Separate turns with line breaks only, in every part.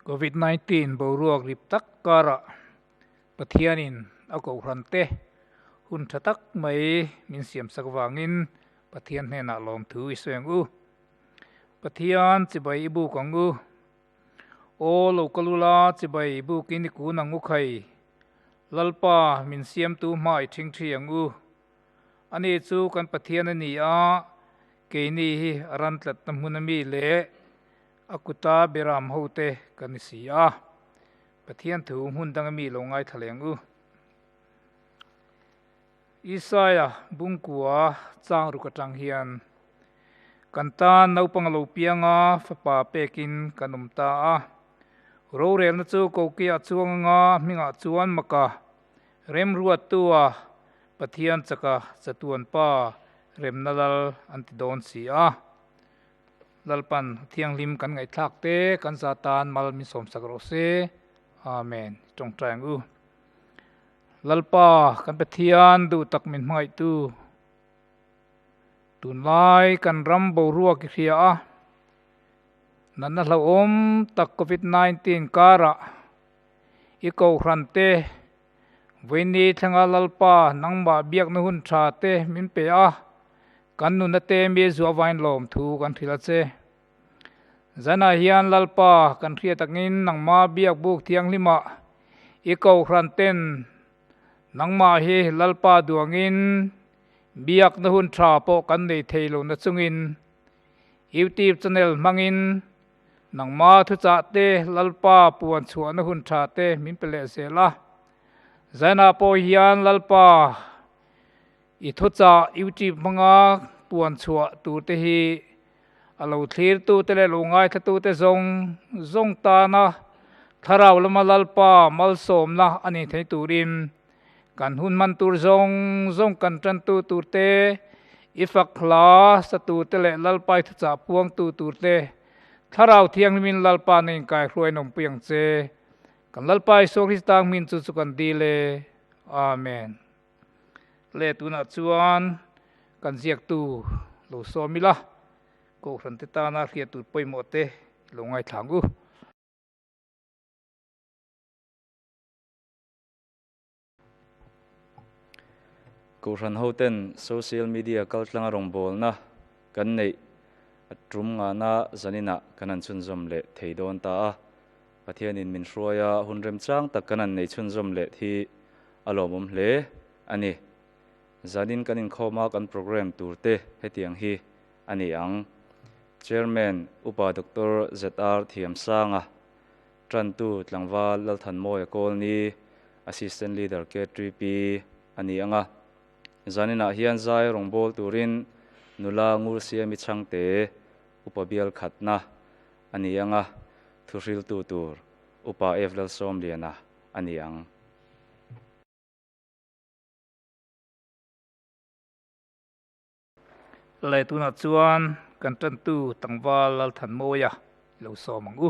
Covid nineteen boruak rip tak karah Pathianin a kohhrante hun tha tak mai min siamsak vangin Pathian hnenah lawmthu i sueng u. Pathian chibai i buk ang u. Aw lo ka lula chibai bukin i kun ang u khai. Lalpa min siamtu hma i thing thi ang u. Ani chu kan Pathian a ni a, keini hi a ran tlatna hmun a mi leh a kuta biaram ho te kan ni si a. Pathian thu hmun dang a mi lo ngaithla leng u. Isaiah bungkua chang ruk atang hian, Kan tan naupang a lo piang a, fapa pekin kan awm ta a. Rorelna chu Koki a chuang anga a hmingah chuan Maka, Remruattua, Pathian chaka chatuanpa, Remna Lal an ti dawn si a. Lalpan a thianghlim kan ngaihthlak te kan za tan mal min sawmsak rawh se. Amen. I tawngtai ang u. Lalpa kan Pathian duh tak min hmangaihtu, tunlai kan ram boruak i hria a, natna hlauhawm tak Covid nineteen karah i kohhrante Vawiini thlenga Lalpa nangmah biakna hun thate min pe a, kan nunate mi zuah vain lawm thu kan hrilh a che. Zanah hian Lalpa kan hria takin nangma biak buk thianghlimah i kohhran ten nangmah hi Lalpa duangin biakna hun tha pawh kan nei thei lo na chungin YouTube channel hmangin nangma thuchah te Lalpa puan chhuahna hun tha te min pe leh zel a. Zanah pawh hian Lalpa i thuchah YouTube hmanga puan chhuah tur te hi a lo thlirtute leh lo ngaithlatute zawng zawng tana Thlarau lama Lalpa malsawmna a ni theih turin kan hun hman tur zawng zawng kan tantu turte, i fak hla sa turte leh Lalpa i thuchah a puangtu turte Thlarau Thianghlimin Lalpa na inkaihhruai a nawmpui ang che. Kan Lalpa Isua Krista hmin chu chu kan dil e. Amen. Tle tunah chuan kan ziaktu lo sawm ila, Kohhran-te tana hriat tur pawimawhte i lo ngaithlang u.
Kohhran hoten Social Media kaltlanga rawngbawlna kan neih a tum ngahna zaninah kan han chhunzawm leh thei dawn ta a. Pathian in min hruai a, hun remchang tak kan an nei chhunzawm leh thi a lawmawm hle a ni. Zan in kan inkhawm a kan programme tur te hetiang hi a ni ang, Chairman Upa Doctor ZR Thiamsanga, Tantu Tlangval Lalthanmawia Colony Assistant Leader KTP a ni ang a. Zan inah hian zai rawngbâwl turin nula, ngursia, mi chhangte upa bial khatna, A ni ang a, thuhriltu tur upa F. Lalsawmliana a ni ang.
Leh tunah chuan kan tantu Tangval Lalthanmawia i lo sawm ang u.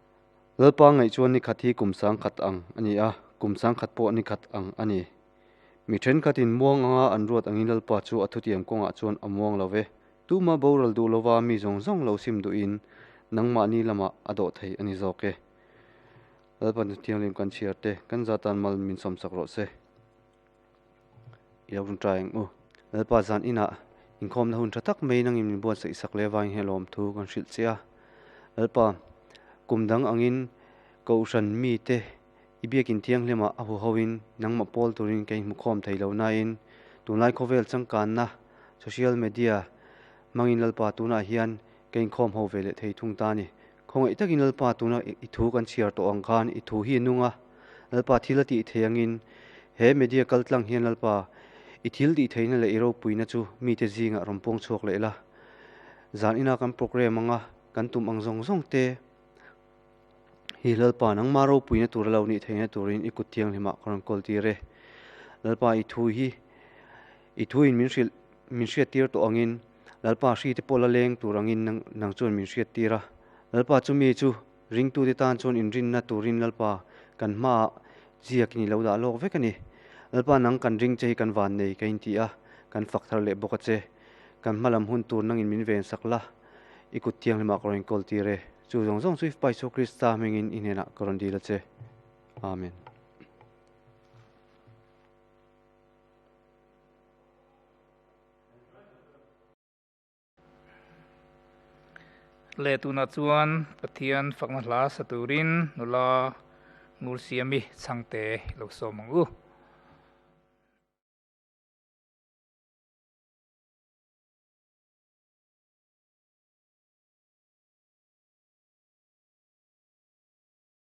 Lalpa ngaih chuan ni khat hi kum sangkhat ang a ni a, kum sangkhat pawh ni khat ang a ni. Mi thenkhatin muang anga an ruat angin Lalpa chu a thutiam kawngah chuan a muang lo e. Tuma boral duh lova mi zawng zawng lo sim duhin nangmahni lamah a dawh thei a ni zawk e. Lalpa thianghlim kan chhiar te, kan zatan mal min sawmsak rawh se. i lo run ta eng u. Lalpa zan inah inkhawmna hun tha tak maiin angin min buatsaih sak leh avangin hei lawm thu kan hrilh che a. Lalpa, kum dang angin Kohhran mite i biakin thianghlimah a huhoin nangmah pawl turin ka inhmukhawm thei lo nain tunlai khawvel changkanna social media hmangin Lalpa tunah hian ka inkhawm ho ve leh thei thung ta a ni. Khawngaih takin Lalpa tuna i thu kan chhiar tawh ang khan i thu hi i nung a, Lalpa thil a tih theih angin he media kal tlang hian Lalpa i thil tih theihna leh i ropuina chu mite zingah rawn puang chhuak leh la. Zan ina kan programme anga kan tum ang zawng zawng te hi Lalpa nangma ropuina tur a lo nih theihna turin i kut thianghlimah ka rawn kawl tir e. Lalpa i thu hi i thuin min hrilh, min hriattir tawh angin. Lalpa a hri te pawh la leng tur angin nang nang chuan min hriat tir a. Lalpa chumi chu ringtute tan chuan inrinna turin Lalpa kan hmaah ziakin i lo dah lawk vek a ni. Lalpa nang kan ring che hi kan van nei ka inti a, kan fak thar leh bawk a che. Kan hma lam hun tur nangin min ven sak la. I kut thianghlimah ka rawn inkawl tir e. Chu zawng zawng chu i Fapa Isua Krista hmingin i hnenah ka rawn dil a che. Amen.
Leh tunah chuan Pathian fakna hla sa turin nula ngul siami changte i lo sawm ang u.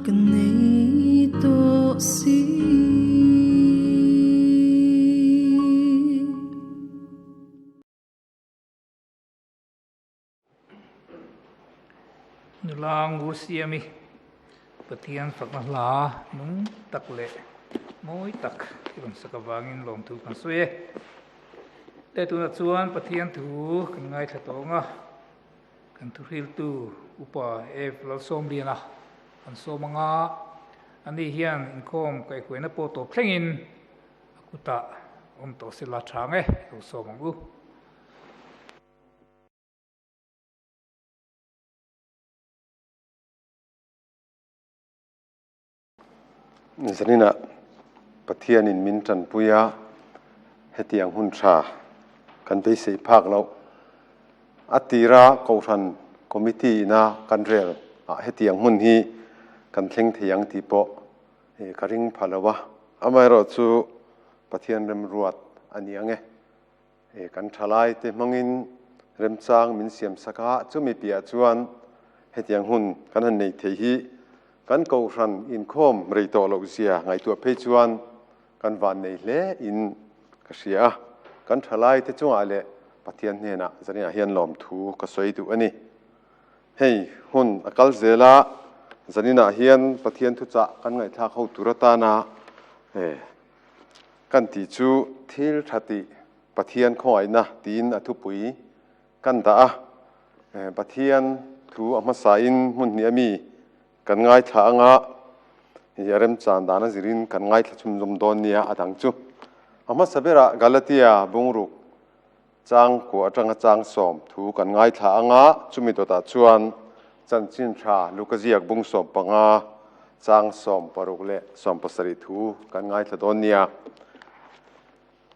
Ka nei tawh si. Nulang u Siami Pathian fakna hla nung tak leh mawi tak i rawn sak avangin lawmthu kan sawi e. Heta tunah chuan Pathian thu kan ngaithla tawng a. kan thuhriltu upa F. Lalsawmliana an sawm a nga. Ani hian inkhawm kaihhuaina pawh tawp thlengin a kutah awm tawh se la tha nge i lo sawm ang u.
Zanina Pathianin min tanpui a, hetiang hun tha kan beisei phak loh. A tira Kohhran Committee ina kan rel ah hetiang hmun hi kan thleng thei ang tih pawh ka ring pha lo a. Amaherawhchu Pathian remruat a ni ang e. He kan thalaite hmangin remchang min siam sak a, chumi piahah chuan hetiang hun kan han nei thei hi kan kohhran inkhawm rei tawh loh zia ngaihtuah phei chuan kan vannei hle in ka hria a, kan thalaite chungah leh Pathian hnenah zaniah hian lawmthu ka sawi duh a ni. Hei hun a kal zel a, zaninah hian Pathian thuchah kan ngaihthlak ho tur atana, Kan tih chu thil tha tih Pathian khawngaihna tiin a thupui kan dah a. Pathian thu a hmasain hmunhnih a mi kan ngaithla anga hei a remchan dan a zirin kan ngaithla chhunzawm dawn nia a dang chu. A hmasa berah Galatia bungruk. Chang kuah atanga chang sawm thu kan ngaithla ang a, chumi dawtah chuan chanchin tha luka ziak bung sawm panga chang sawm paruk leh sawm pasarih thu kan ngaithla dawn nia.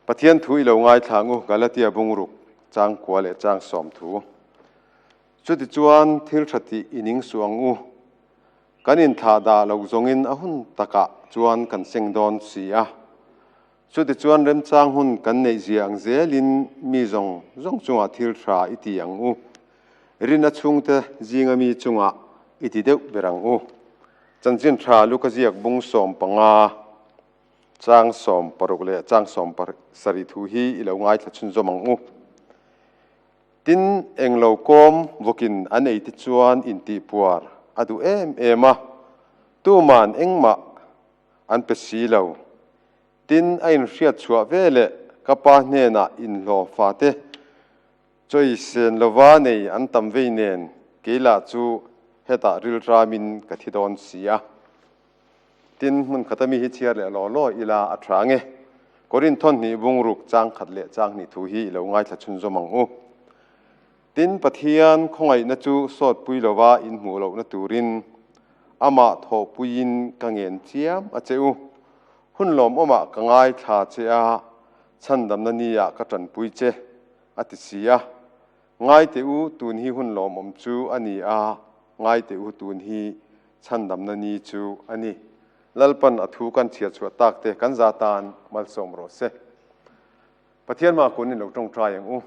Pathian thu i lo ngaithla ang u, Galatia bungruk chang kuah leh chang sawm thu. Chutichuan thil tha tih i ning suh ang u. Kan inthlah dah loh zawngin a hun takah chuan kan seng dawn si a. Chutichuan remchang hun kan neih zia ang zelin mi zawng zawng chungah thil hra i ti ang u. Rin a chhungte zinga mi chungah i ti deuh ber ang u. Chanchin hra luka ziak bung sawm panga chang sawm paruk leh chang sawm pasarih thu hi i lo ngaithla chhunzawm ang u. Tin, eng lo kawm vawkin an ei te chuan intihpuar a duh em em a. Tuman engmah an pe si lo. Tin, a inhriatchhuah ve leh ka pa hnenah inhlawh fate chawi sen lova nei an tam vei nen kei lah chu hetah rilramin ka thi dawn si a. Tin, hmun khata mi hi chhiar leh law law ila a tha nge. Corinthon hnih bungruk chang khat leh chang hnih thu hi i lo ngaithla chhunzawm ang u. Tin, Pathian khawngaihna chu sawtpui lova inhmuh lohna turin Amah thawhpuiin ka ngen chiam a che u. Hun lawmawmah ka ngaithla che a, chhandamna ni ah ka tanpui che, a ti si a. Ngai teh u, tun hi hun lawmawm chu a ni a, ngai teh u, tun hi chhandamna ni chu a ni. Lalpan a thu kan chhiar chhuah tak te kan za tan malsawm rawh se. Pathian hma kun in lo tawngtai ang u.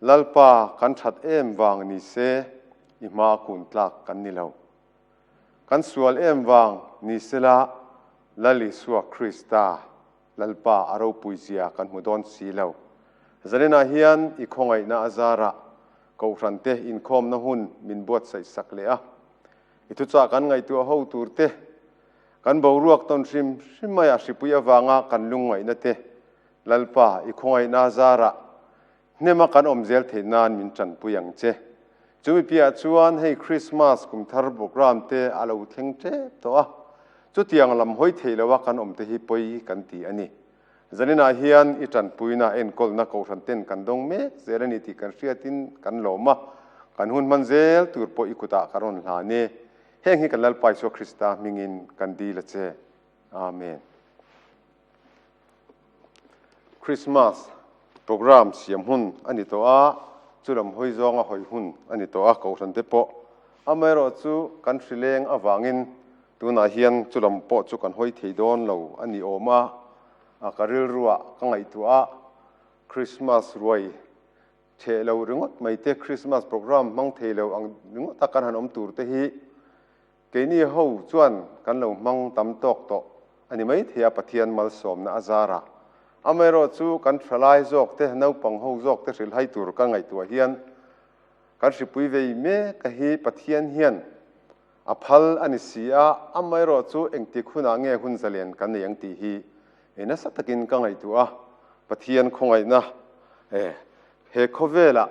Lalpa kan that em vang ni se i hma a kun tlak kan ni lo. Kan sual em vang ni se la Lal Isua Krista Lalpa a ropui zia kan hmu dawn si lo. Zanina hian i khawngaihna a zarah Kohhran te inkhawmna hun min buatsaih sak leh a. I thuchah kan ngaihtuah ho tur te, kan boruak tawn hrim hrim maiah hripui avanga kan lungngaihna te Lalpa, i khawngaihna zarah hnema kan awm zel theih nan min tanpui ang che. Chumi piahah chuan hei Krismas kum thar programme te a lo thleng tep tawh a, chutiang lam hawi theih loh a kan awm te hi pawi kan ti a ni. Zaninah hian i tanpuina enkawlna kohhran ten kan dawng mek zel a ni tih kan hriatin kan lawm a, kan hun hman zel tur pawh i kutah ka rawn hlan e. Heng hi kan Lalpa Isua Krista hmingin kan dil a che. Amen. Christmas programme siam hun a ni tawh a, chu lam hawi zawnga hawi hun a ni tawh a, Kohhran te pawh amaherawh chu kan hrileng avangin tunah hian chu lam pawh chu kan hawi thei dawn lo a ni awm a, a ka rilrua ka ngaihtuah a, Christmas ruai theh lo ringawt mai te, Christmas programme hmang thei lo ang ringawt a kan han awm tur te hi, Keini ho chuan kan lo hmang tam tawk tawh a ni maithei a Pathian malsawmna a zarah. Amaherawh chu kan thalai zawk te, naupang ho zawk te hrilhhai tur kan ngaihtuah hian kan hripui vei mek a hi Pathian hian a phal a ni si a, amaherawh chu engtik hunah nge hun zalen kan nei ang tih hi He nasa takin ka ngaihtuah a, Pathian khawngaihna e, he khawvela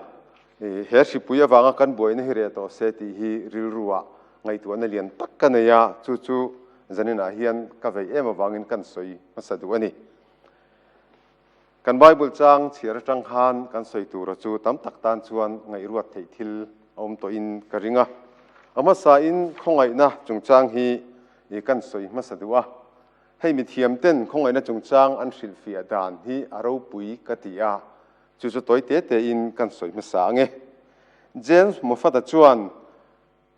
he hripui avanga kan buaina hi reh tawh se tih hi rilrua ngaihtuahna lian tak ka nei a, chu chu zaninah hian ka vei em avangin kan sawi hmasa duh a ni. Kan Bible chang chhiar atang khan kan sawi tura chu tam tak tan chuan ngaihruat theih thil a awm tawhin ka ring a. A hmasain khawngaihna chungchang hi kan sawi hmasa duh a. Hei mithiam ten khawngaihna chungchang an hrilhfiah dan hi a ropui ka ti a, chu chu tawi te te in kan sawi hmasa ange. James Moffata chuan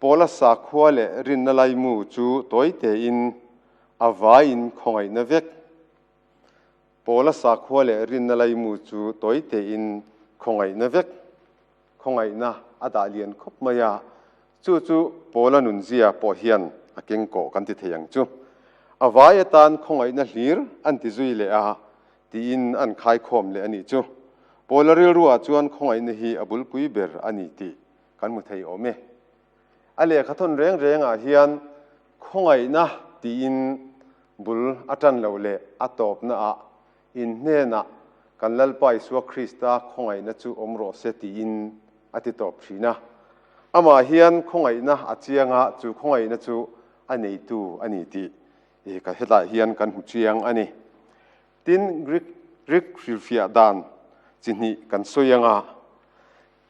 Paula sakhua leh rinna laimu chu tawi te in a vai in khawngaihna vek. Paula sakhua leh rinna laimu chu tawi tein khawngaihna vek khawngaihna a dah lian khawp mai a, chu chu Paula nunzia pawh hian a keng kawh kan ti thei ang chu. A vai atan khawngaihna hlir an ti zui leh a tiin an khaikhawm leh a nih chu. Paula rilruah chuan khawngaihna hi a bulpui ber a ni tih kan hmu thei awm e. A lehkha thawn reng rengah hian khawngaihna tiin bul a tan loh leh a tawpnaah in hnenah kan Lalpa Isua Krista khawngaihna chu awm rawh se tiin a ti tawp thin a. Amah hian khawngaihna a chianga chu khawngaihna chu a neitu a ni tih ka hetah hian kan hmu chiang a ni. Tin, Greek rilfiah dan chi hnih kan sawi anga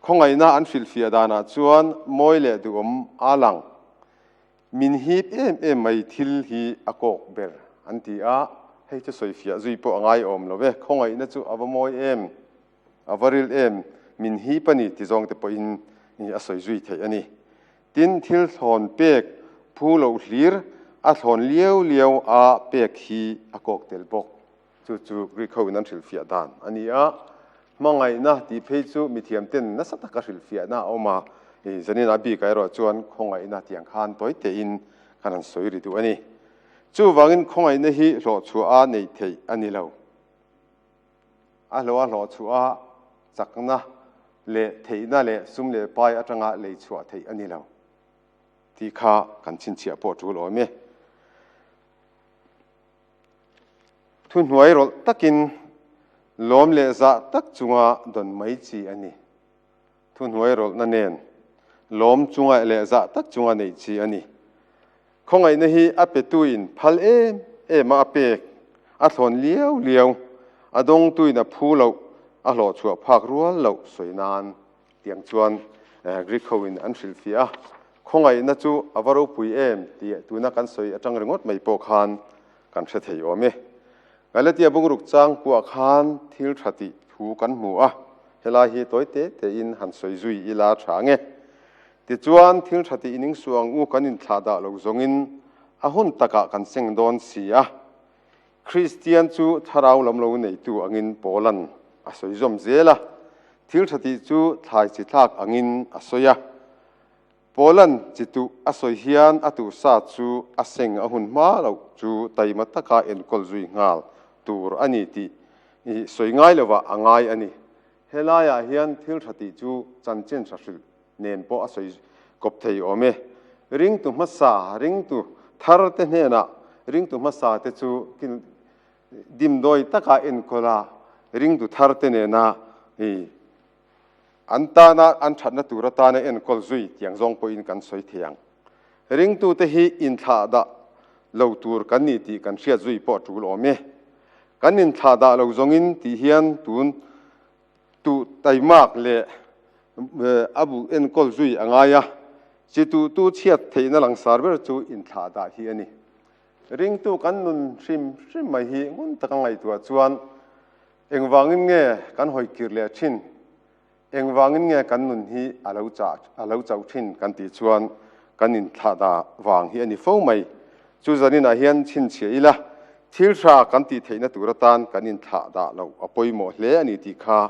Khawngaihna an filhfiah danah chuan mawi leh duhawm aa lang. Min hip em em mai thil hi a kawk ber an ti a, hei chu sawifiah zui pawh a ngai awm lo e. Khawngaihna chu a va mawi em, a va ril em, min hip a ni ti zawng te pawhin a sawi zui theih a ni. Tin, thil thlawn pek phu loh hlir, a thlawn liau liau a pek hi a kawk tel bawk. Chu chu Greek ho in an hrilhfiah dan a ni a. Hmangaihna tih phei chu mithiam ten nasa taka hrilhfiahna a awm a. I zanina bik ah erawh chuan khawngaihna tiang khan tawi teh in kan han sawi ri duh a ni. Chu vang in khawngaihna hi hlawh chhuah a neih theih a ni lo. A hlawh a hlawh chhuah a chakna leh theihna leh sum leh pai atang a lei chhuah theih a ni lo tih kha kan chhinchhiah pawh tul awm e. Thuhnuai rawlh takin lawm leh zah tak chunga dawn mai chi a ni. Thuhnuai rawlhna nen lawm chunga leh zah tak chunga neih chi a ni. Khawngaihna hi a petuin phal em ema a pek, a thlawn liau liau, a dawngtuin a phu loh, a hlawhchhuah phak rual loh sawi nan. Tiang chuan Greek hoin an hrilh fiah a, khawngaihna chu a va ropui em ti tuna kan sawi atang ringawt mai pawh khan kan hre thei awm e. Galatia bungruk chang kuah khan thil tha tih thu kan hmu a, helai hi tawi te tein han sawi zui i la tha nge. Tichuan, thil tha tih ining suh ang u kan inthlah dah lo zawngin a hun takah kan seng dawn si a. Kristian chu thlarau lam lo neitu angin Paulan a sawi zawm zel a, thil tha tih chu thlai chi thlak angin a sawi a. Paulan chi tuh a sawi hian a tuh sa chu a seng a hun hma loh chu taima taka enkawl zui nghal tur a ni tih sawi ngai lovah a ngai a ni. He laiah hian thil hra tih chu chanchin hra hrilh nen pawh a sawi kawp thei awm e. Ringtu hmasa, ringtu thar te hnenah ringtu hmasa te chu dimdawi taka enkawl a, ringtu thar te nena an tana an thatna tur atana enkawl zui tiang zawng pawhin kan sawi thei ang. Ringtute hi inthlah dah lo tur kan ni tih kan hriat zui pawh a tul awm e. Kan inthlah dah lo zawngin tih hian tun tuh taimak leh a bu enkawl zui a ngai a. Chituhtu chhiat theihna langsar ber chu inthlah dah hi a ni. Ringtu kan nun hrim hrim mai hi ngun taka ngaihtuah chuan engvangin nge kan hawi kir leh thin? Engvangin nge kan nun hi a lo chah a lo chauh thin kan tih chuan kan inthlahdah vang hi a ni fo mai. Chu zaninah hian chhinchhiah ila, thil hra kan tih theihna tur atan kan inthlah dah lo a pawimawh hle a ni tih kha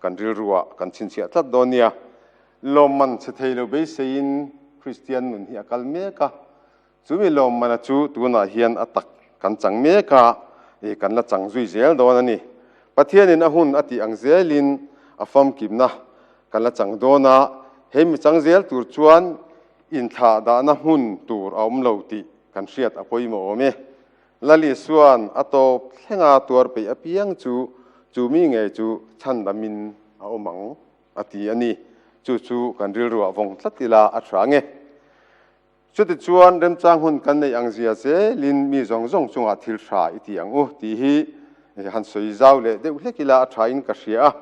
kan rilruah kan chhinchhiah tlat dawn nia. Lawmman chhe thei lo beiseiin Kristian nun hi a kal mek a. Chumi lawm mana chu tunah hian a tak kan chang mek a, ih kan la chang zui zel dawn a ni. Pathianin a hun a tih ang zelin a famkimna kan la chang dawn a, he mi chang zel tur chuan inthlah dahna hmun tur a awm lo tih kan hriat a pawimawh awm e. Laliswa'n a tawp thlenga tuar peih apiang chu chu mi ngei chu chhan damin a awm ang a ti a ni. Chu chu kan rilruah vawng tlat ila a hrang e. Chuti chuan remchang hun kan neih ang zia zelin mi zawng zawng chungah thil hra i ti ang u tih hi han sawi zau leh deuh hlek ila a thain ka hria a.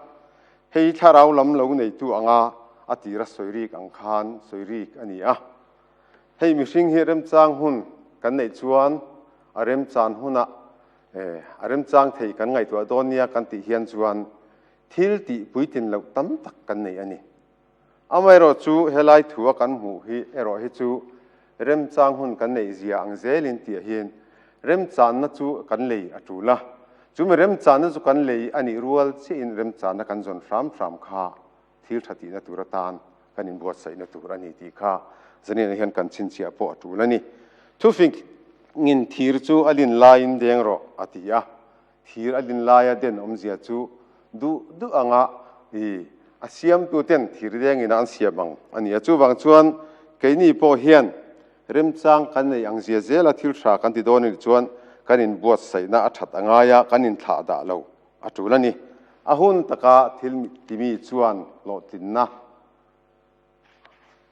Hei thlarau lam lo neitu anga a tira sawi rik ang khan sawi rik a ni a. Hei mihring hi remchang hun kan neih chuan a remchan hunah a remchang thei kan ngaihtuah dawn nia kan tih hian chuan thil tih puitlin loh tam tak kan nei a ni. Amaherawh chu helai thu a kan hmuh hi erawh hi chu remchang hun kan neih zia ang zel in tih ah hian remchahna chu kan lei a tul a. Chumi remchahna chu kan lei a nih rual chiah in remchahna kan zawn hram hram kha thil tha tihna tur atan kan in buatsaihna tur a ni tih kha zanian ah hian kan chhinchhiah pawh a tul a ni. Thufing in thir chu a lin lai in deng rawh a ti a. Thir a din laia den awmzia chu duh duh ang a ni. A siamtu ten thir leng ina an siam ang a ni a. Chuvang chuan keini pawh hian remchang kan nei ang zia zela thil hra kan ti dawn a nih chuan kan in buatsaihna a that a ngai a, kan in thlah dah lo a tul a ni. A hun taka thil timi chuan hlawhtlinna.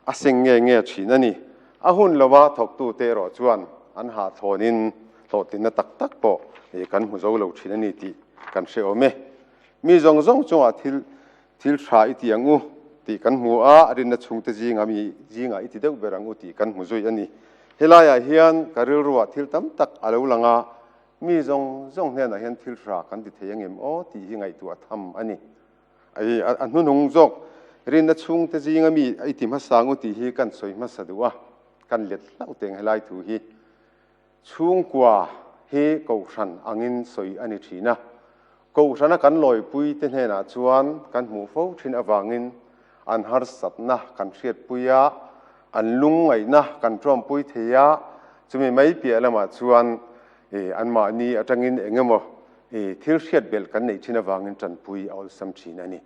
a seng nge nge thin a ni. A hun lova thawktu te erawh chuan an hahthawnin hlawhtlinna tak tak pawh ih kan hmu zo lo thin a ni tih kan hre awm e. Mi zawng zawng chungah thil thil tha i ti ang u tih kan hmu a, rinna chhungte zinga mi zingah i ti deuh ber ang u tih kan hmu zui a ni. Helaiah hian ka rilruah thil tam tak a lo lang a, mi zawng zawng hnenah hian thil tha kan ti thei a ngem aw tih hi ngaihtuah tham a ni. A i a hnunung zawk rinna chhungte zinga mi a i ti hmasa ang u tih hi ka han sawi hmasa duh a, ka han let hlauh teh ang helai thu hi. Chhungkua hi Kohhran angin sawi a ni thin a, Kohhrana kan lawipuite hnenah chuan kan hmuh fo thin avangin an harsatna kan hriatpui a, an lungngaihna kan ṭuanpui thei a, chumi mai piah lamah chuan Anmahni atangin eng emaw thil hriat belh kan neih thin avangin tanpui a awlsam thin a ni.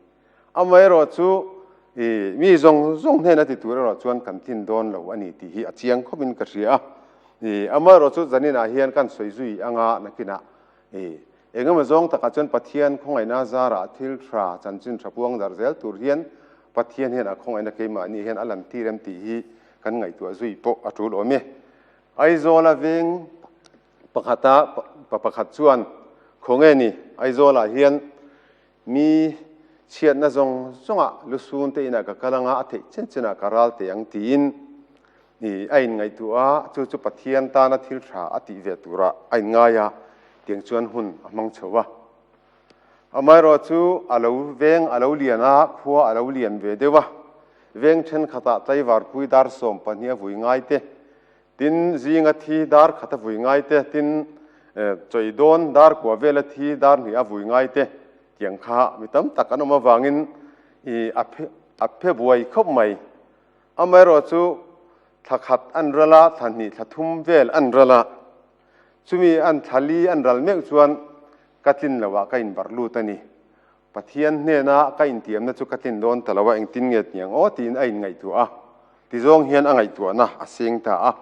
Amaherawh chu mi zawng zawng hnena ti tur erawh chuan kan tin dawn lo a ni tih hi a chiang khawpin ka hria a. Amaherawh chu zaninah hian kan sawi zui anga nakinah eng emaw zawng takah chuan Pathian khawngaihna zarah thil tha chanchin tha puang darh zel tur hian Pathian hian a khawngaihna keimahni hian a lantîr em tih hi kan ngaihtuah zui pawh a ṭul awm e. Aizawl a veng pakhata pa pakhat chuan, Khaw nge ni, Aizawlah hian mi chhiatna zawng zawnga lusun te inah ka kal anga a theih chen chenah ka ral teh ang tiin i a inngaihtuah a, chu chu Pathian tana thil tha a tih ve turah a inngai a tiang chuan hun a hmang chho a. Amaherawh chu a lo veng a lo lian a, khua a lo lian ve deuh a. Veng thenkhatah tlaivarpui dar sawm pahnih a vui ngai te, tin zinga thi dar khat a vui ngai te, tin chawi dawn dar kua vela thi dar hnih a vui ngai te tiang kha mi tam tak an awm avangin i a phe a phe buai khawp mai. Amaherawh chu thlakhat a an ral a, thlahnih thlathum vel a an ral a. Chumi an thlal i an ral meuh chuan ka tlin lo ah ka inbarh lut a ni. Pathian hnena ka intiamna chu ka tlin dawn ta lo a, engtin nge tniang aw tiin a inngaihtuah a, ti zawng hian a ngaihtuahna a seng ta a.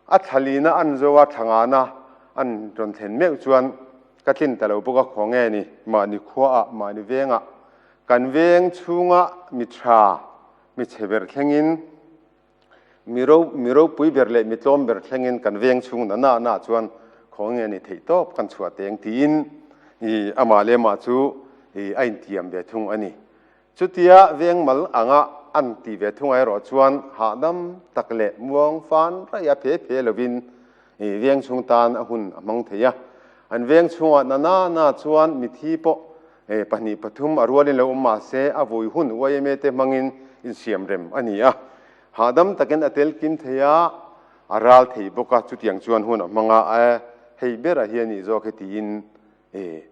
A thlalina an zo a, thlangana an rawn thlen meuh chuan ka tlin ta lo bawk a, khaw nge ni, mahni khua ah, mahni veng ah, kan veng chhung ah mi tha, mi chhe ber thleng in, Mi ro, mi ropui ber leh mi tlawm ber thlengin kan veng chhung nana anah chuan khawng nge ni theih tawp kan chhuah teng tiin i amah leh mah chu i a intiam ve thung a ni. Chutia veng mal anga an tih ve thung ah erawh chuan hahdam tak leh muang fan raih a phe phe lovin i veng chhung tan a hun a hmang thei a. An veng chhungah nana anah chuan mithi pawh Hei pahnih pathum a rualin lo awm mahse a vui hun yma te hmangin insiam rem a ni a. Hahdam takin a tel kim thei a, a ral thei bawk a, chutiang chuan hun a hmang a, e, hei ber a hi a nih zawk e tiin e,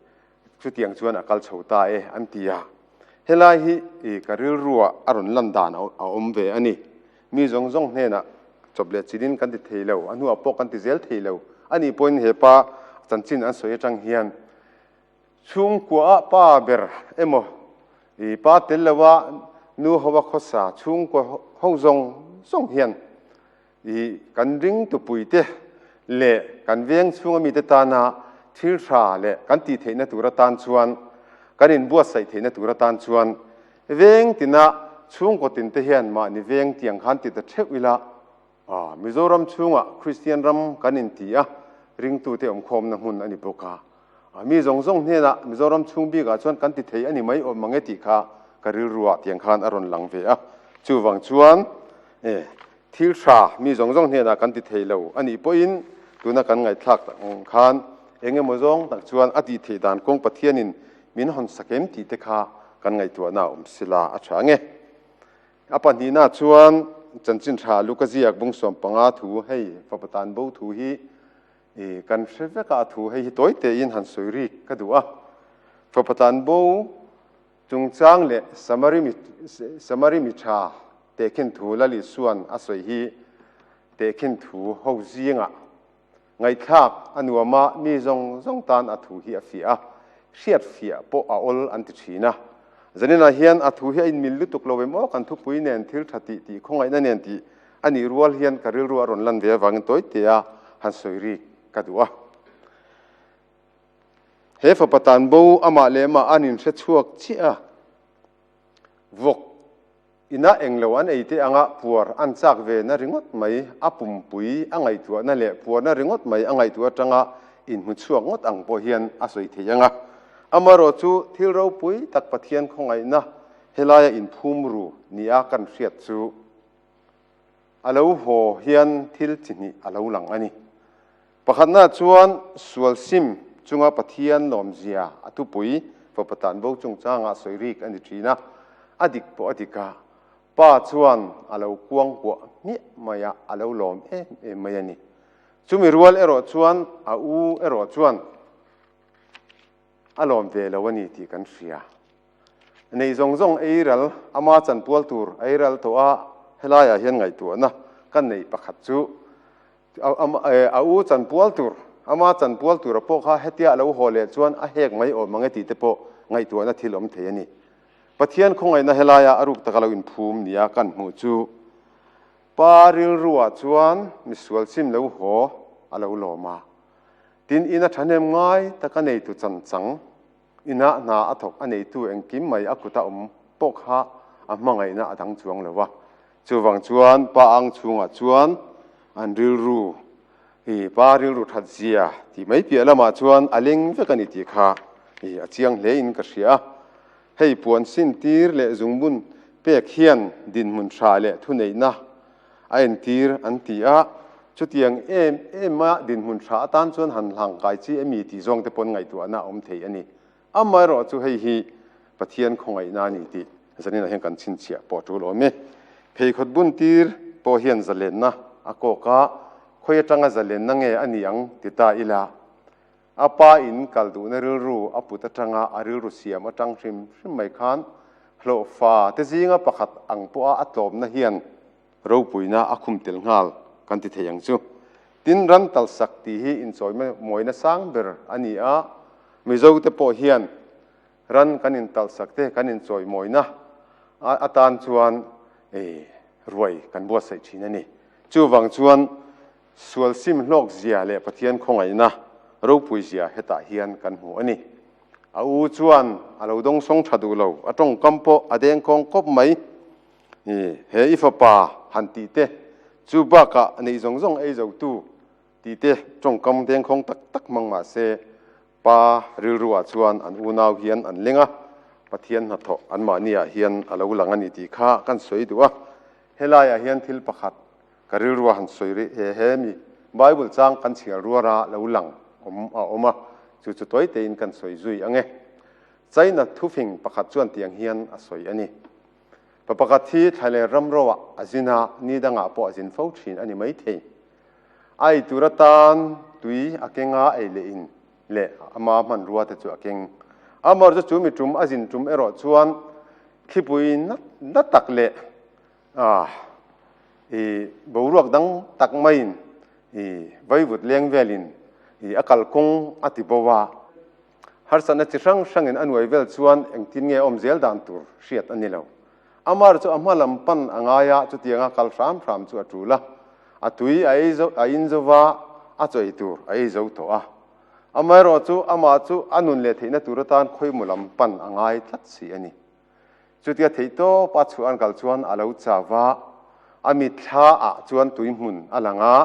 chutiang chuan a kal chho ta e an ti a. Helai hi e ka rilruah a rawn lan dan a awm ve a ni. Mi zawng zawng hnenah chawp leh chilhin kan ti thei lo, a hnuah pawh kan ti zel thei lo a nih pawhin hepa chanchin an sawi atang hian, Chhungkuaha pa ber emaw ih pa tel loha nu hoa khawsa chhungkua ho zawng zawng hian ih kan ringtupuite leh kan veng chhunga mite tana thil hra leh kan tih theihna tur atan chuan kan inbuatsaih theihna tur atan chuan veng tina chhungkaw tin te hian mahni veng tiang khan ti ta theuh ila A, Mizoram chhungah Kristian ram kan inti a, ringtute awmkhawmna hmun a ni bawk a. A, mi zawng zawng hnena Mizoram chhung bikah chuan kan ti thei a ni mai awm mange tih kha ka rilru ah tiang khan a rawn lang ve a. Chuvang chuan, E, thil tha mi zawng zawng hnena kan ti thei lo a nih pawhin tuna kan ngaihthlak tak khan eng emaw zawng tak chuan a tih theih dan kawng Pathianin min hawnsak em tih te kha kan ngaihtuahna a awm sila a tha nge. A pahnihnaah chuan Chanchinṭha Lukaziak Bungsuam panga thu hei Fapatan Bo thu hi i kan hre vek a, a thu hei hi tawi tein han sawi rik ka duh a. Fapatan Bo chungchang leh Samari mi Samari mi ṭha tehkhin thu Lalisuan a sawi hi tehkhin thu ho zingah Ngaihthlak a nuam a, mi zawng zawng tan a thu hi a fiah a, hriatfiah pawh a awl an ti thin a. Zaninah hian a thu hi a inmil lutuk lo em aw, kan thupui nen thil tha tih tih khawngaihna nen tih a nih rual hian ka rilru a rawn lan ve avangin tawitea han sawi rik ka duh a. He fapa tanbo amah leh amah an inhrechhuak chiah a, vawk Inah englo an ei teh anga puar an chak ve na ringawt mai, a pumpui a ngaihtuah na leh puar na ringawt mai a ngaihtuah atanga inhmuchhuak ngawt ang pawh hian a sawi thei anga. Amarawh chu thil ropui tak Pathian khawngaihna helaia inphum ru nia kan hriat chu. A lo haw hian thil chi hnih a lo lang a ni. Pakhatnaah chuan sual sim chunga Pathian lawmzia a tupui fapa tan bo chungchangah sawi rik a ni thin a, a dik pawh a dik a, pa chuan a lo kuang kuah hmiah mai a, a lo lawm em em mai a ni. Chumi rual erawh chuan a u erawh chuan. A lawm ve lo a ni tih kan hria. Nei zawng zawng eiral ama chanpual tur a eiral tawh a, helaiah hian ngaihtuahna ka neih pakhat chu a u chanpual tur, ama chanpual tura pawh kha hetia a lo haw leh chuan a hek mai awm ang e tih te pawh ngaihtuahna thil awm thei a ni. Pathian khawngaihna helaiah a ruk taka lo inphum nia kan hmuh chu Pa Rilruah chuan misual chim lo haw a lo lawm a. Tin, ina thahnem ngai tak a neitu chanh chang inah hna a thawk a neitu engkim mai a kuta awm pawh kha a hmangaihna a dang chuang lo a. Chuvang chuan pa ang chhungah chuan an rilru hi pa rilru that zia tih mai piah lamah chuan a leng vek a ni tih kha a chiang hle in ka hria a. Hei puan sin tir leh zungbun pek hian dinhmun hra leh thuneihna, a entir an ti a, chutiang em em a dinhmun tha atan chuan han hlangkai chi emi tih zawng te pawn ngaihtuahna a awm thei a ni. Amaherawh chu hei hi Pathian khawngaihna a ni tih zaninah hian kan chhinchhiah pawh a tul awm e. Pheikhawt buntir pawh hian zalenna a kawk a, khawi atanga zalenna nge a ni ang ti ta ila, A pa in kal duhna rilru a put atanga a rilru siam atang hrim hrim mai khan hlawhfa te zinga pakhat ang pawha a tlawmna hian ropuina a khum tel nghal kan ti thei ang chu. Tin, ran talsak ti hi inchawimawina sang ber a ni a, Mizote pawh hian Ran kan in talh sak te kan in chawi mawina a a tan chuan ei ruai kan buatsaih thin a ni. Chuvang chuan sual sim hlawkzia leh Pathian khawngaihna ropuizia hetah hian kan hmu a ni. A u chuan a lo dawngsawng tha duh lo, a tawngkam pawh a deng kawng kawp mai. He i fapa han tih te chu bakah neih zawng zawng ei zo tu, Tite tawngkam dengkhawng tak tak hmang mah se, Pa rilruah chuan an unau hian an lenga Pathian hnathawh anmahniah hian a lo lang a ni tih kha kan sawi duh a. Helaiah hian thil pakhat ka rilruah han sawi rih e, hemi Bible chang kan chhial ruara lo lang awm a awm a, chu chu tuai tein kan sawi zui ange. China thufing pakhat chuan tiang hian a sawi a ni, Pa pakhat hi thlailair ramrawah a zin a, ni dangah pawh a zin fo thin a ni maithei. Ai tur atan tui a kenga ei leh in leh ama hmanrua te chu a keng. Amaw chu chu mi tum a zin tum erawh chuan thlipui nat nat tak leh ah i boruak dang tak mai in i vaivut leng vel in i a kalkawng a ti bova. Harsatna chi hrang hrangin a nuai vel chuan engtin nge awm zel dan tur hriat a ni lo. A mar chu a hma lam pan a ngai a, chutianga kal hram hram chu a tul a. A tui a ei zo, a in zo va, a chawi tur a ei zo tawh a. Amaherawh chu amah chu a nun leh theihna tur atan khawimawh lam pan a ngai tlat si a ni. Chutia theih tawp a chhuah an kal chuan a lo cha va. A mitthla ah chuan tui hmun a lang a,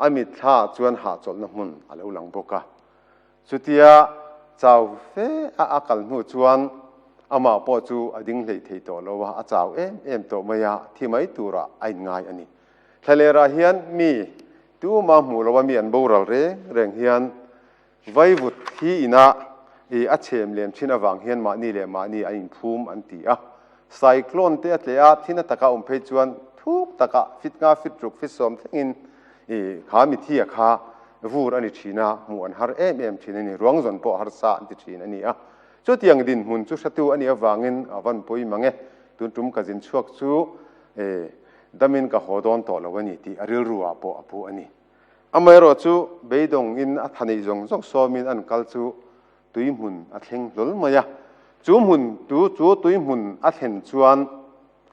a mitthla ah chuan hahchawlhna hmun a lo lang bawk a. Chutia chau fe a a kal hnu chuan amah pawh chu a ding hleih thei tawh lo a, a chau em em tawh mai a, thi mai turah a inngai a ni. Thlalêrah hian mi tumah hmuh loh a mi an boral reng reng hian vaivut hi inah a chhem lem chin avang hian mahni leh mahni an inphum an ti a. Cyclone te a tle a, thin a tak a awm phei chuan thuk tak a fit nga fit ruk fit sawm thlengin i kha Mithia kha vur a ni thin a, hmuh an har em em thin a ni, ruang zawn pawh harsa an ti thin a ni a. Chutiang dinhmun chu hratu a nih avangin a vanpui mang e, tun tum ka zin chhuak chu e damin ka haw dawn tawh lo a ni tih a rilru ah pawh a pu a ni. Amaherawhchu beidawngin a tha neih zawng zawng sawmin an kal chu Tuihmun a thleng hlawl mai a. Chu hmun tu chu tuihmun a thlen chuan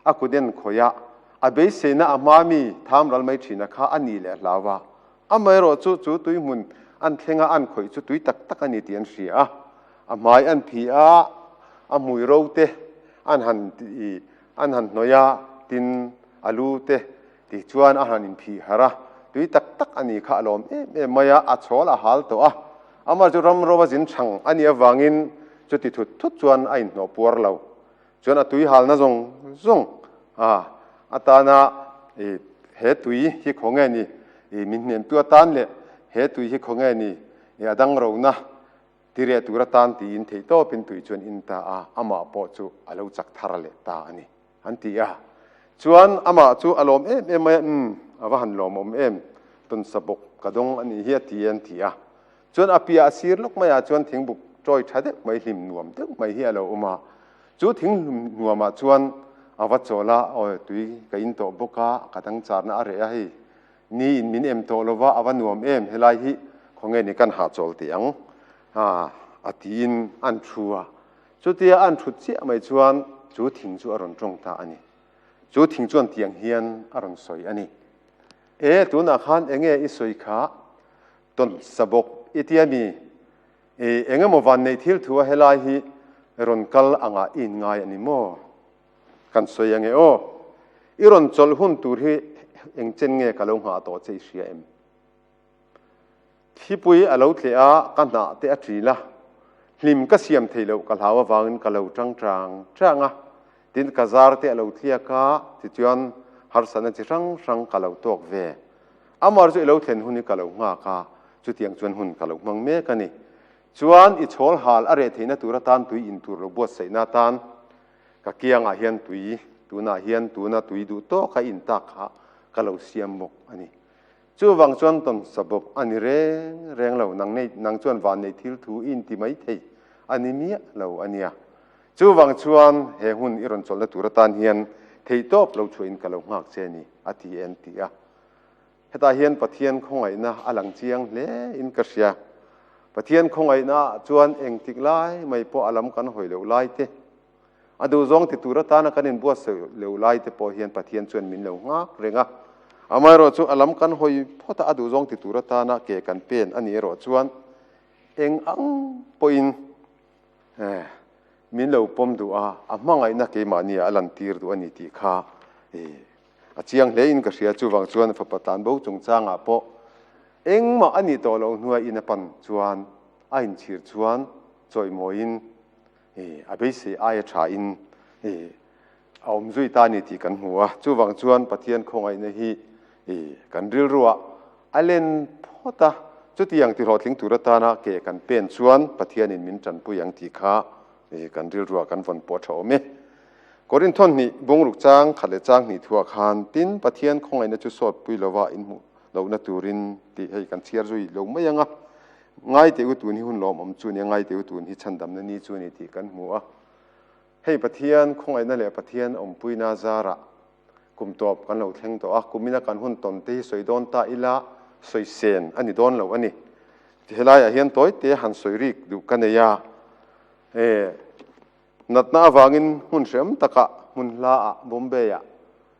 a kut en khawih a, a beiseina a hma mi tham ral mai thina kha a nih leh hlau a. Amaherawh chu chu tuihmun an thlenga an khawih chu tui tak tak a ni tih an hria a. A hmai an phih a, a hmui ro te an han an han hnawih a, tin a lu te tih chuan a han inphih harh a, tui tak tak a nih kha a lawm em em mai a, a chawl a hal tawh a. Amah chu ram roa zin chhang a nih avangin chuti thut thut chuan a inhnawh puar lo. Chuan a tui halna zawng zawng a atana i, he tui hi khaw nge ni i, min hnemtu atan leh he tui hi khaw nge ni i a dang rona ti reh tur atan tiin theihtawpin tui chuan in ta a, amah pawh chu a lo chak thar leh ta a ni. An ti a. Chuan amah chu a lawm em em mai a, Umm, a va han lawm awm em, tawnsa bawk ka dawng a nih hi a ti e an ti a. Chuan a piah a sir lawk maiah chuan thing buk ṭawi ṭha deuh mai, hlim nuam deuh mai hi a lo awm a. Chu thing hlim nuamah chuan a va chawl a, Aw, tui ka intawh bawk a, ka dangcharna a reh a hei. Ni in min em tawh lo va, a va nuam em, helai hi khawnge ni kan hahchawl teh ang? a tiin an thu a. Chutia a an thut chiah mai chuan chu thing chu a rawn tawng ta a ni. Chu thing chuan tiang hian a rawn sawi a ni. E, tunah khan eng nge i sawi kha? Tawn sa bawk i ti a ni. E, eng emaw vanneih thil thu a helai hi rawn kal angah i inngai a ni maw? Kan sawi ange aw. I rawn chawlh hun tur hi engchen nge ka lo nghah tawh che i hria em? Thlipuii a lo tleh a, ka hnah te a ṭil a, hlim ka siam thei loh ka hlau avangin ka lo ṭang ṭang ṭang a, tin ka zar te a lo tliak a, tichuan harsatna chi hrang hrang ka lo tawk ve. Amar chu i lo thlen hun hi ka lo nghak a, chutiang chuan hun ka lo hmang mek a ni. Chuan i chawl hal a reh theihna tur atan tui in tur lo buatsaihna atan ka kiang ah hian tui tunah hian tuna tui duh tawk a in tak kha ka lo siam bawk a ni. Chu vang chuan tawnsa bawk a ni reng reng lo, nang nei nang chuan vannei thil thu i inti mai thei a ni miah lo a nia. Chu vang chuan he hmun i rawn chawlh na tur atan hian theih tawp lo chhuah in ka lo nghak che ni a ti en ti a. Hetah hian Pathian khawngaihna a lang chiang hle in ka hria. Pathian khawngaihna ah chuan engtik lai mai pawh a lam kan hawi loh lai te A duh zawng ti tur atana kan inbuatsaih loh lai te pawh hian Pathian chuan min lo nghak reng a. Amaherawh chu a lam kan hawi phawt a, a duh zawng ti tur atana ke kan pen a nih erawh chuan eng ang pawhin min lo pawm duh a, a hmangaihna keimahniah a lantir duh a ni tih kha a chiang hle in ka hria. Chuvang chuan fapa tlanbo chungchangah pawh engmah a nih tawh loh hnuaiin a pan chuan a inchhir chuan chawih mawiin Ih, a beisei aia tha in ih, a awm zui ta ni tih kan hmu a. Chuvang chuan Pathian khawngaihna hi ih, kan rilruah a len phawt a. Chuti ang tihlawhtling tur atana ke kan pen chuan Pathianin min tanpui ang tih kha ih, kan rilruah kan vawn pawh tha awm e. Korinto hnih bungruk chang khat leh chang hnih thu ah khan tin Pathian khawngaihna chu sawtpui lova inhmuh lohna turin tih hei kan chhiar zui lo mai ang a. Ngai teh u tun hi hun lawm awm chu a ni a, ngai teh u tun hi chhandamna ni chu a ni tih kan hmu a. Hei Pathian khawngaihna leh Pathian awmpuina zarah kum tawp kan lo thleng tawh a, kumina kan hun tawn te hi sawi dawn ta ila sawi sen a ni dawn lo a ni. Helaiah hian tawi te han sawi rik duh ka nei a, he natna avangin hmun hream taka hmun hla ah Bombay-ah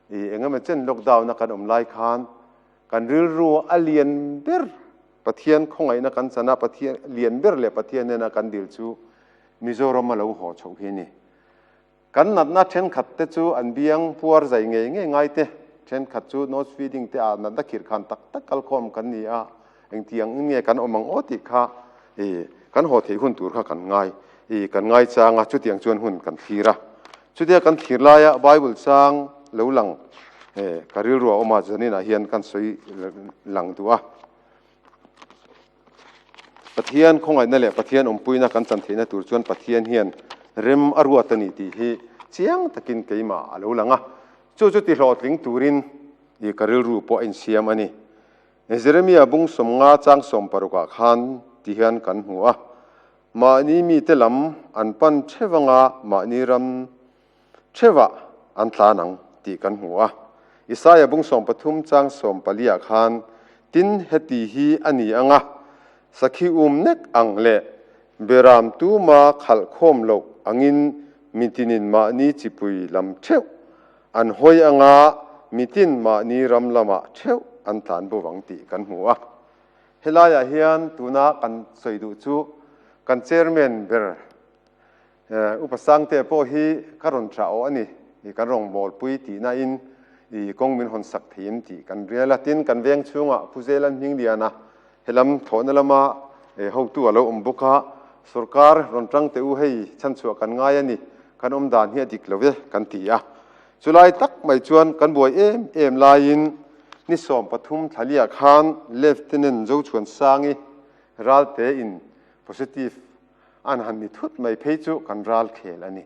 i engemaw chen lockdown-a kan awm lai khan kan rilru a lian ber. Pathian khawngaihna kan chan a, Pathian lian ber leh Pathian nena kan dil chu Mizoram a lo haw chhoh hi ni. Kan natna thenkhat te chu an biang puar zai ngei ngei ngai te, thenkhat chu nose feeding te ah natna khirkhan tak tak kal khawm kan ni a, engtiang in nge kan awm ang aw tih kha kan haw theih hun tur kha kan ngai kan ngai chang a, chutiang chuan hun kan thlir a. Chutia kan thlir laia Bible chang lo lang ka rilruah awma zaninah hian kan sawi lang duh a. Pathian khawngaihna leh Pathian awmpuina kan chan theihna tur chuan Pathian hian rem a ruat a ni tih hi chiang takin keimah a lo lang a. Chu chu tihlawhtling turin i ka rilru pawh a insiam a ni. Jeremia bung sawmnga chang sawm parukah khan ti hian kan hmu a. Mahni mite lam an pan theuh anga mahni ram theuhah an tlan ang tih kan hmu a. Isaiah bung sawm pathum chang sawm paliah khan, Tin heti hi a ni anga, Sakhi um nek ang leh berram tuma khalh khawm loh angin mitinin mahni chipui lam theuh an hawi anga mitin mahni ram lamah theuh an tlan bawk ang tih kan hmu a. Helaiah hian tuna kan sawi duh chu kan Chairman ber U Pa Sangtea pawh hi ka rawn tha awh a ni, i kan rawngbawlpui tihna in i kawng min hawn sak thei em tih kan rial a. Tin, kan veng chhunga Pu Zelan Hmingliana he lam thawhna lama hotu a lo awm bawk a, sorkar rawn tangte u hei chhanchhuah kan ngai a ni, kan awmdan hi a dik lo e kan ti a. Chu lai tak mai chuan kan buai em em laiin ni sawm pathum thlania khan Lieutenant Zochhuansangi ral tein positive an han ni thut mai phei chu kan ral khel a ni.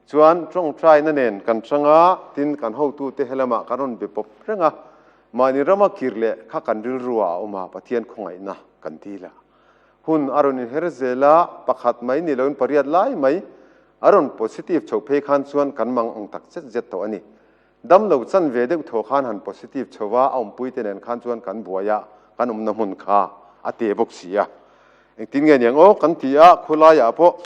Chuan tawngtaina nen kan chang a, tin kan hotute he lamah kan rawn be pawp reng a, mahni rama kir leh kha kan rilru ah a awm a, Pathian khawngaihna kan dil ah. Hun a rawn inher zel a, pakhat mai ni loin pariat lai mai a rawn positive chho phei khan chuan kan mang ang tak zet zet tawh a ni. Damlo chan ve deuh thaw khan han positive chho a, a awmpuite nen khan chuan kan buai a, kan awmna hmun kha a tê bawk si a. Engtin nge niang aw kan ti a, khawlaiah pawh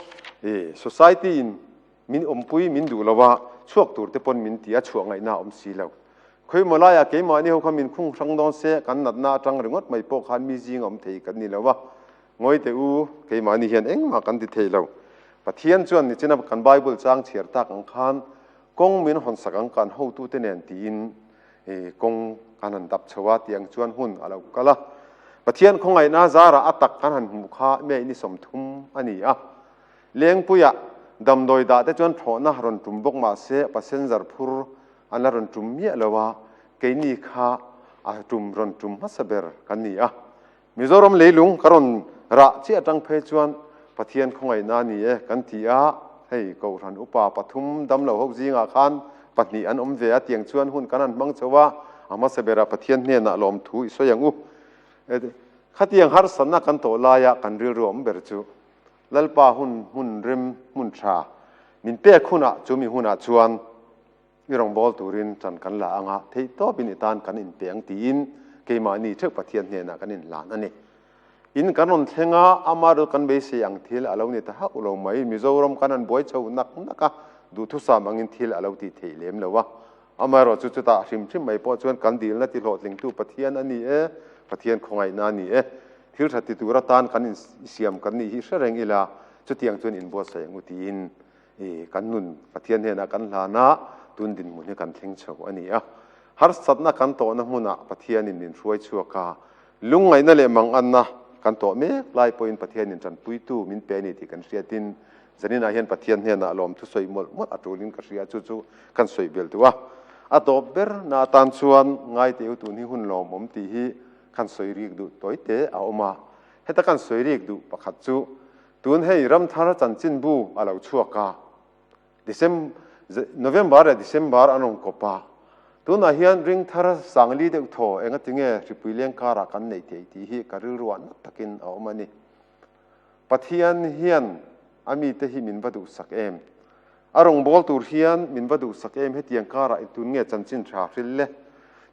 i society in, Min awmpui min duh lo a, chhuak tur te pawn min ti a, chhuah ngaihna a awm si lo. Khawimaw laiah keimahni ho kha min khung hrang dawn se, kan natna atang ringawt mai pawh khan mi zing a awm thei kan ni lo a, ngawi teh u, keimahni hian engmah kan ti thei lo. Pathian chuan nichina kan Bible chang chhiar tak ang khan kawng min hawn sak ang kan hotute nen tiin i kawng kan han dap chho a tiang chuan hun a lo kal a. Pathian khawngaihna zarah a tak kan han hmuh kha mei ni sawmthum a ni a. Lengpuia damdawi dah te chuan thlawhna a rawn tum bawk mah se passenger phur an la rawn tum miah lo a, keini kha a tum rawn tum hmasa ber kan ni a. Mizoram leilung ka rawn rah chiah atang phei chuan Pathian khawngaihna a ni e kan ti a, hei Kohhran upa pathum damlo ho zingah khan pahnih an awm ve a tiang chuan hun kan han hmang chho a, a hmasa berah Pathian hnenah lawmthu i sawi ang u. Khatiang harsatna kan tawh laia kan rilru awm ber chu Lalpa hun hmun rem hmun tha min pek hunah chu mi hunah chuan i rawngbâwl turin chan kan la anga theih tâwpin i tân kan inpe ang tiin keimahni theuh Pathian hnênah kan inhlan a ni. In kan rawn thleng a, amaherawh kan beisei ang thil a lo ni ta hauh lo mai. Mizoram kan han buai chho nak nak a, duhthusâm angin thil a lo tih theih lêm lo a. Amaherawh chu chutah hrim hrim mai pawh chuan kan dilna tihlawhtlingtu Pathian a ni e, Pathian khawngaihna a ni e. Thil ṭha ti tur atan kan in siam kan nih hi hre reng ila, chutiang chuan in buatsaih ang u tiin i kan nun Pathian hnenah kan hlan a, tun dinhmun hi kan thleng chho a ni a. Harsatna kan tawhna hmuna Pathianin min hruai chhuak a, lungngaihna leh manganna kan tawh mek lai pawhin Pathianin ṭanpuitu min pe a ni tih kan hriatin, zaninah hian Pathian hnenah lawmthu sawi mawlh mawlh a ṭulin ka hria chu chu kan sawi bel duh a. A dawp ber na atan chuan ngaite u tun hi hun lawmawm tih hi, Kan sawi riek duh tawi te a awm a, heta kan sawi riek duh pakhat chu tun hei Ramthara chanchinbu a lo chhuak a, November leh December an rawn kawp a, tunah hian Ringthara Sangli deuh thaw engatinge Hripuileng karah kan neih theih tih hi ka rilruah nat takin a awm a ni. Pathian hian a mite hi min va duhsak em? A rawngbâwl tur hian min va duhsak em? Hetiang kârah intûn nge chanchin hrâ hril le?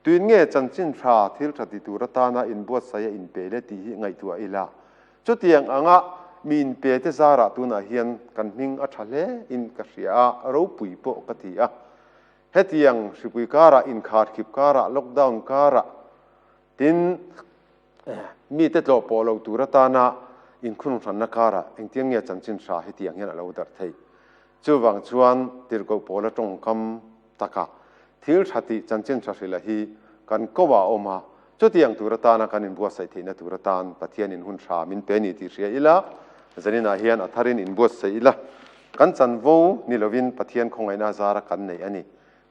Tûin nge chanchin hrâ thil ṭha ti tur atâna inbuatsaia in pe le tih hi ngaihtuah a ila? Chutiang anga mi in pete zâra tûnah hian kan hming a ṭha hle in ka hria a, ropui pawh ka ti a. Hetiang hripui kârah, inkhâr khip kârah, lockdown kârah Tin, mite tlawh pawh lo tur atana inkhungrung hranna karah engtiang nge chanchin hra hetiang hian a lo darh thei? Chuvang chuan tirhkoh pawla tawngkam taka thil hra tih chanchin hra hrilh a hi kan koh ah a awm a, chutiang tur atana kan inbuatsaih theihna tur atan Pathianin hun hra min pe ni tih hria ila zaninah hian a tharin inbuatsaih ila kan chanvo ni lovin Pathian khawngaihna zara kan neih a ni.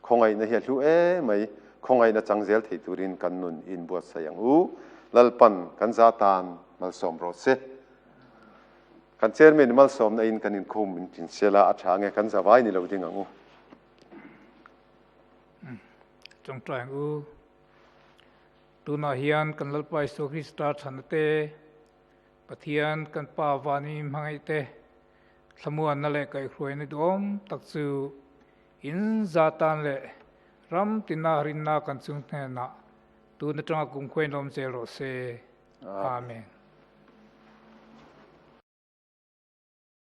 Khawngaihna hi a hlu e mai. Khawngaihna chang zel thei turin kan nun in buatsaih ang u. Lalpan, kan za tan malsawm rawh se. Kan chairman i malsawmna in kan inkhum in hrinsel a, a tha ang e, kan za vai ni lo ding ang u.
Tawngtai ang u. Tunah hian kan Lalpa Isua Krista thana te, Pathian kan Pa vani hmangaih te, thlamuanna leh kaihhruaina duhawm tak chu In zah tan leh ram tina rinna kan chung hnenah tun atanga kum khuain awm zel rawh se. Amen.